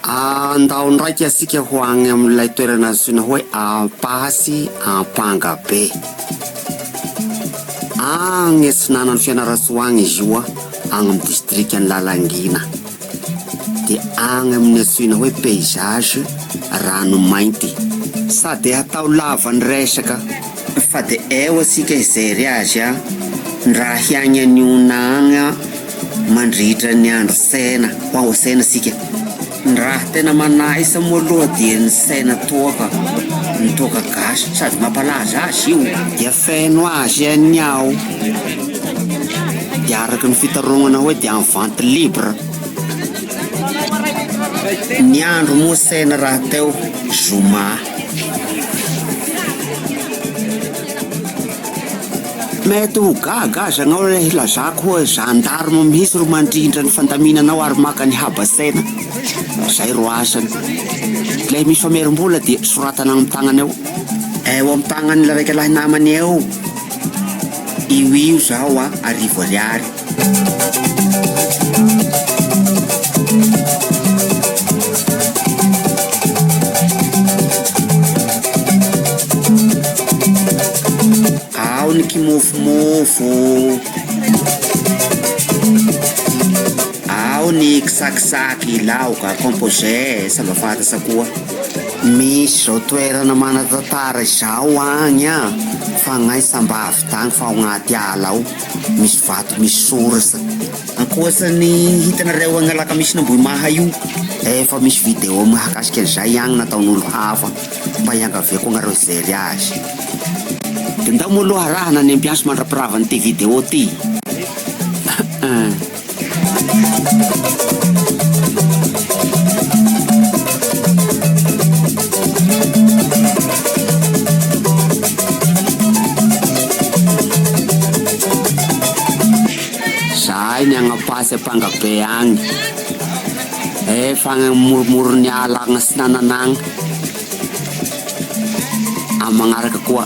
Andao ndraika isika ho agny amin'ilay toerana antsoina hoe Ampaha sy Ampangabe. Agny atsinanan'i Fianarantsoa agny izy io agny amin'ny distrikan'i Lalangina. Dia agny amin'ny antsoina hoe paysage Ranomainty. Sady atao lava ny resaka. Fa de eo asika hijery azy an! Raha hiagny any ona agny an! Mandritra ny andro sena hoa ho sena asika! Ny raha tena manaisa moa aloha dia ny sena toaka, ny toaka gasy sady mampalaza azy io! Dia feno azy any ao! Dia araka ny fitaraognana hoe dia en vente libre! Ny andro moa sena raha teo zoma! Mety ho gaga aza anao ilay hilazako hoe gendarme mihitsy ro mandrindra ny fandaminanao ary maka ny habasaina. Izay ro asany. Ilay misy famerim-bola dia soratana amin'ny tagnana eo. Eo amin'ny tagnan'ilay raika lahy namany eo. Io io zao a, arivo ariary. Ao ny kimofomofo, ao ny kisakisaky laoka composé sa mba fantatra koa. Misy izao toerana manan-tantara izao agny an, fagnahy sambavy tagny fa ao agnaty ala ao. Misy vato misy source. Ankoatran'ny hitanareo agny alakamisy na ambohimaha io efa misy video mahakasika an'izay agny nataon'olo hafa mba hiangaviako agnareo hijery azy. De ndao moa aloha araho na ny ambiance mandrapiravan'ity video ty. Zahay ny agny Ampasy Ampangabe agny, efa agny amoromorogn'ny ala agny Atsinanana agny, amin'ny magnaraka koa.